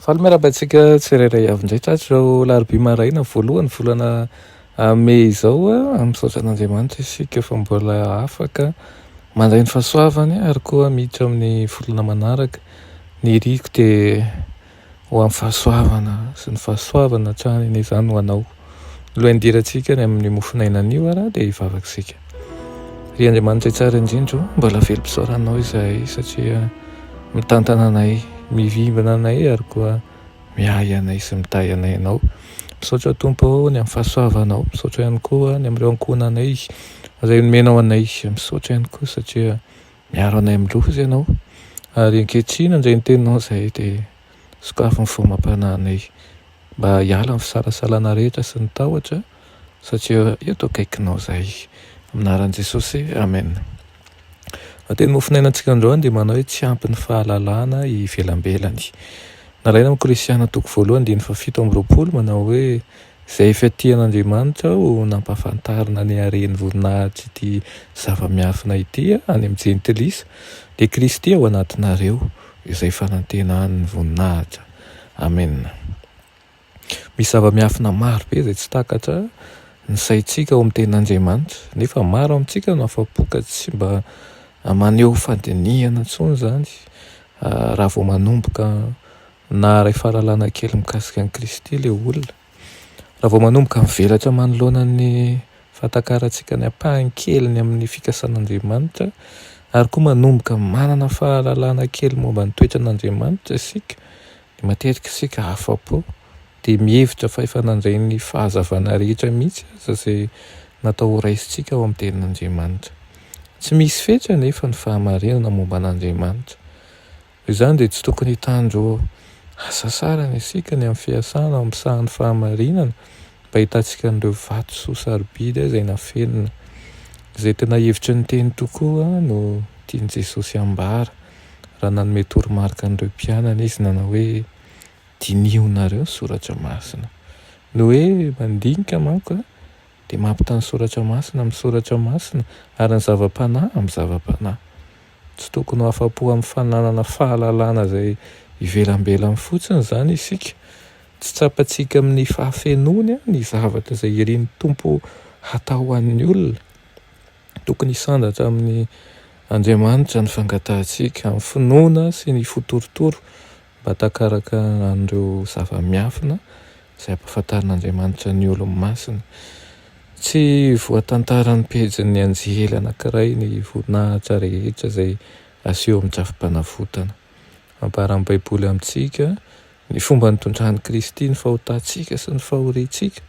Faly miarahaba antsika tsirairay avy indray tratry izao larobia maraina voalohany volana ah, mey izao. Ah, misaotra an'Andriamanitra isika fa mbola afaka mandray ny fahasoavany ary koa miditra amin'ny volana manaraka. Ny iriko dia ho amin'ny fahasoavana sy ny fahasoavana hatrany, ny izany ho anao. Ny lohain-dirantsika any amin'ny mofon'aina anio ara dia hivavaka isika. Ry Andriamanitra tsara indrindra o, mbola velom-pisaoranao izahay satria mitantana anay, mivimbina anay ary koa miahy anay sy mitahy anay Ianao. Misaotra Tompo o, ny amin'ny fahasoavanao. Misaotra ihany koa ny amin'ireo ankohonanay izay nomenao anay. Misaotra ihany koa satria miaro anay amin'ny loza Ianao. Ary ankehitriny, indray ny Teninao izahay dia. Sokafy ny fomam-panahinay mba hiala ny fisalasalana rehetra sy ny tahotra satria eto akaikinao izahay. Amin'ny anaran'i Jesosy, Amen. Ny teny mofonainantsika androany dia manao hoe tsy ampy ny fahalalana ivelambelany. Nalaina amin'ny Kolosiana toko voalohany andininy fahafito amby roapolo manao hoe izay efa tian'Andriamanitra aho nampahafantarina ny haren'ny voninahitr'ity zava-miafina ity any amin'ny jentilisa dia Kristy ao anatinareo. izay fanantenan ny voninahitra Amen Misy zava-miafina maro be izay tsy takatra ny saintsika ao amin'ny tenin' Andriamanitra nefa maro amintsika no afa-po ka tsy mba maneho fandinihana intsony izany raha vao manomboka naharay fahalalana kely mikasika an'i Kristy ilay olona. Raha vao manomboka mivelatra manoloana ny fahatakarantsika ny ampahany keliny amin'ny fikasan'Andriamanitra ary koa manomboka manana fahalalana kely momba ny toetran'Andriamanitra isika, dia matetika isika afa-po, dia mihevitra fa efa nandray ny fahazavana rehetra mihitsy aza izay natao horaisintsika ao amin'ny Tenin'Andriamanitra. Tsy misy fetra anefa ny fahamarinana momba an'Andriamanitra. Izany dia tsy tokony hitandro hasasarana isika ny amin'ny fiasana amin'ny sahan'ny fahamarinana mba hitantsika an'ireo vatosoa sarobidy izay nafenina. Izay tena hevitry ny Teny tokoa no tian'i Jesosy hambara, raha nanome toromarika an'ireo mpianany izy nanao hoe, Dinihonareo ny soratra masina. Ny hoe mandinika manko dia mampita ny soratra masina amin'ny soratra masina ary ny zava-panahy amin'ny zava-panahy. Tsy tokony ho afa-po amin'ny fananana fahalalana izay ivelambelany fotsiny izany isika. Tsy tsapantsika amin'ny fahafenoany ny zavatra izay irin'ny Tompo hatao ho an'ny olona. Tokony hisandratra amin' Andriamanitra ny fangatahantsika, amin'ny finoana sy ny fitoritoro Mba takaraka an'ireo zava-miafina izay ampahafantarin'Andriamanitra ny olony masina. Tsy voatantaran'ny pejin'ny anjely anankiray ny voninahitra rehetra izay aseho amin'ny drafi-panavotana. Ambaran'ny Baiboly amintsika ny fomba nitondran'i Kristy ny fahotantsika sy ny fahoriantsika.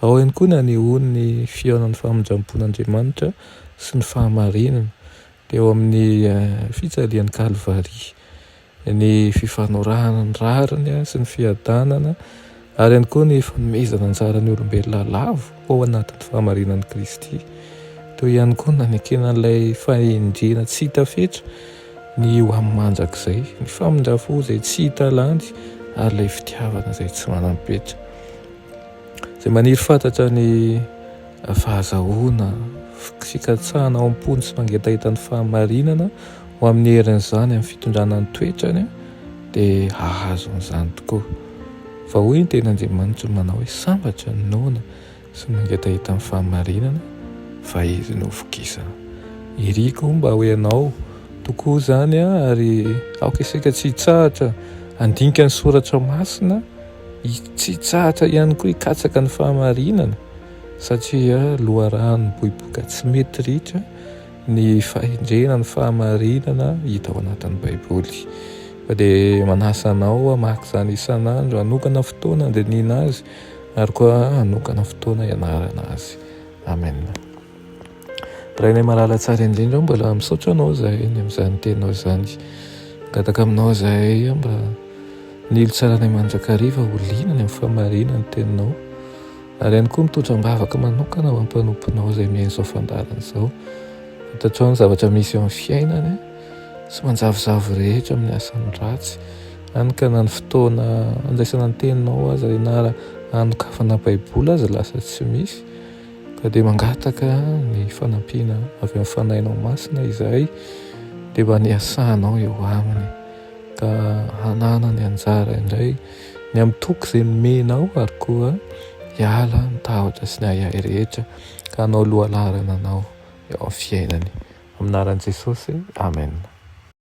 Ao ihany koa ny anehoany ny fihaonan'ny famindrampon'Andriamanitra sy ny fahamarinana, teo amin'ny fijalian'i Kalvary. ny fifanorahana ny rariny sy ny fiadanana, ary ihany koa ny fanomezana anjara ny olombelona lavo ao anatin'ny fahamarinan'i Kristy. Toy ihany koa nanekena an'ilay fahendrena tsy hita fetra ny ho amin'ny mandrakizay, ny famindra fo izay tsy hita lany ary ilay fitiavana izay tsy manam-petra izay maniry fantatra ny fahazahoana, fikatsahana ao am-pony sy mangetaheta ny fahamarinana ho amin'ny herin'izany amin'ny fitondrana ny toetrany dia hahazo an'izany tokoa. Fa hoy ny teny Andriamanitra no manao hoe sambatra ny noana sy ny mangetaheta ny fahamarinana fa izy no vokisana. Iriko mba ho ianao tokoa izany ary aoka isika tsy hitsahatra handinika ny soratra masina Hitsitsahatra ihany koa hikatsaka ny fahamarinana satria loharano mipoipoika tsy mety ritra ny fahendrena ny fahamarinana hita ao anatin'ny Baiboly. Fa dia manasa anao hamaky izany isan'andro, hanokana fotoana handinihina azy ary koa hanokana fotoana hianarana azy. Amen. Rainay malala tsara indrindra aho mbola misaotra anao zahay ny amin'izany teninao izany. Mangataka aminao zahay mba nilo tsara anay mandrakariva ho liana ny amin'ny famarihana ny teninao ary ihany koa mitondra am-bavaka manokana ho ampanomponao izay mihaino izao fandaharana izao. Fantatrao ny zavatra misy eo amin'ny fiainany sy manjavozavo rehetra amin'ny asany ratsy hany ka na ny fotoana handraisana ny teninao aza ianarana hanokafana baiboly aza lasa tsy misy. Ka dia mangataka ny fanampiana avy amin'ny Fanahinao Masina izahay dia mba niasanao eo aminy ka hananany anjara indray ny amin'ny toky izay nomenao ary koa hiala ny tahotra sy ny ahiahy rehetra ka hanao lohalarana anao eo amin'ny fiainany. Amin'ny anaran'i Jesosy, Amen.